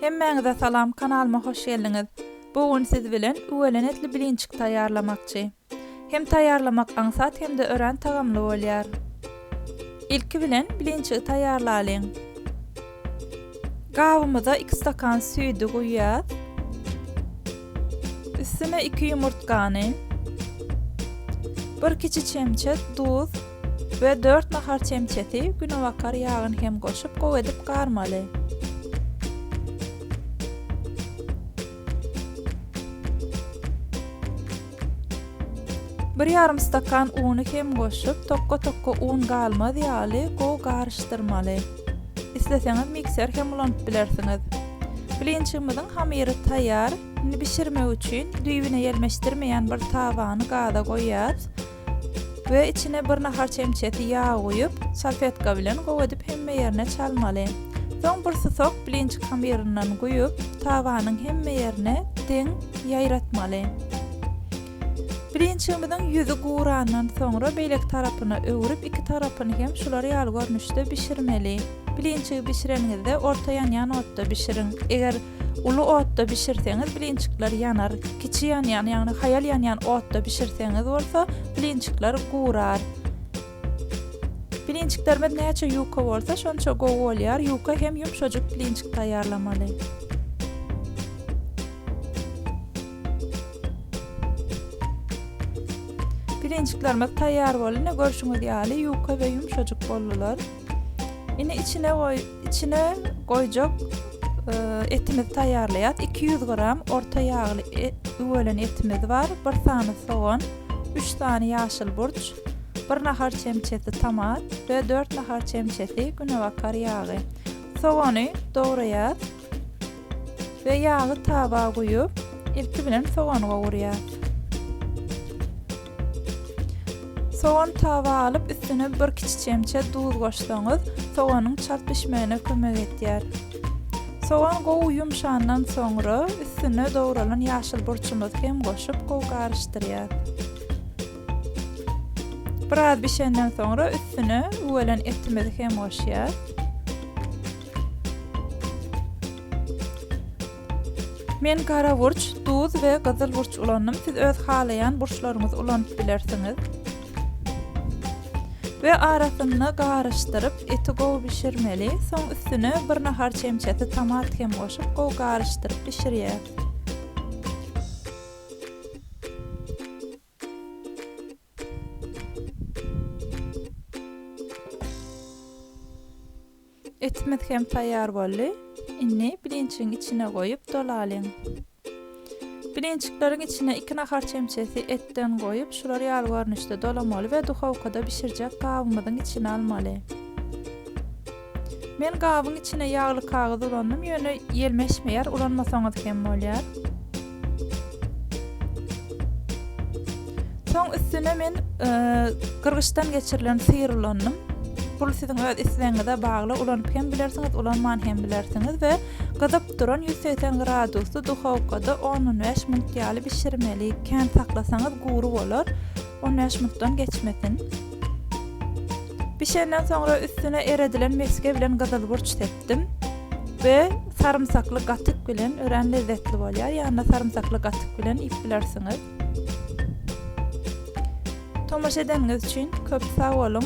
Hemmäňize salam kanalyma hoş geldiňiz. Bu gün siz bilen üwelen etli blinçik taýýarlamakçy. Hem taýýarlamak aňsat hem-de örän tagamly bolýar. Ilki bilen blinçigi taýýarlalyň. Gabymyza iki stakan süýdi guýýas. Üstüne iki ýumurtgany, bir kiçi çemçe duz we dört nahar çemçesi günebakar ýagyny hem goşup gowy edip garmaly. Bir ýarym stakan uny hem goşup, tokka-tokka un galmaz ýaly gowy garyşdyrmaly. Isleseňiz mikser hem ulanyp bilersiňiz. Blinçigimiziň hamyry taýýar. Indi bişirmek üçin düýbüne ýelmeşdirmeýän bir tabany gaza goýýas. we içine bir nahar çemçesi ýag guýup, salfetka bilen gowy edip hemme ýerine çalmaly. Soň bir susak blinçik hamyryndan guýup, tabanyň hemme ýerine deň ýaýratmaly. Blinçigimiziň ýüzi gurandan soňra beýleki tarapyna öwrüp iki tarapyny hem şular ýaly görnüşde bişirmeli. Blinçigi bişireniňizde orta ýanýan otda bişiriň. Eger Uly otda bişirseňiz blinçikler ýanar, kiçi ýanýan, ýagny haýal ýanýan otda bişirseňiz bolsa blinçikler gurar. Blinçiklerimiz näçe ýuka bolsa şonça gowy bolýar, ýuka hem ýumşajyk blinçik taýýarlamaly. Blinçiklerimiz taýýar boldy, ine görşüňiz ýaly ýuka we ýumşajyk boldular. Indi içine goy, içine goýjak e, etimizi taýýarlaýas. 200 gram orta ýagly e, üwelen etimiz bar. 1 sany sogan, 3 sany ýaşyl burç, 1 nahar çemçesi tomat we 4 nahar çemçesi günebakar ýagy. Sogany dograýas. we ýagy taba guýup, ilki bilen sogany gowurýar. Sogan taba alyp, üstüne bir kiçi çemçe duz goşsaňyz, soganyň çalt bişmegine kömek edýär. Sogan gowy ýumşandan soňra, üstüne dogralan ýaşyl burçumyzy hem goşup, gowy garyşdyrýar. Biraz bişenden soňra, üstüne üwelen etimizi hem goşýar. Men gara burç, duz we gyzyl burç ulandym, siz öz halaýan burçlaryňyzy ulanyp bilersiňiz. We arasyna garyşdyryp, eti gowy bişirmeli, soň üstüne bir nahar çemçesi tomat hem goşup gowy garyşdyryp bişirýäs. Etimiz hem taýýar boldy. Indi birinçigiň içine goýup dolalyň. Birinçikleriň içine iki nahar çemçesi etden goýup, şular ýaly görnüşde dolamaly we duhowkada bişirjek gabymyzyň içine almaly. Men gabyň içine ýagly kagyz ulandym, ýöne ýelmeşmeýär, ulanmasaňyz hem bolýar. Soň üstüne men gyrgyçdan geçirilen syr ulandym. Bul siziň öz islegiňize bagly, ulanyp hem bilersiňiz, ulanman hem bilersiňiz we gyzyp duran 180 gradusly duhowkada 10-15 minut ýaly bişirmeli. Kän saklasaňyz gury bolar. on bäş minutdan geçmesin. Bişenden soňra üstüne eredilen meske bilen gyzyl burç sepdim we sarımsakly gatyk bilen ören lezzetli bolýar. Ýanyna sarımsakly gatyk bilen iýip bilersiňiz. Tomaşa edeniňiz üçin köp sag boluň.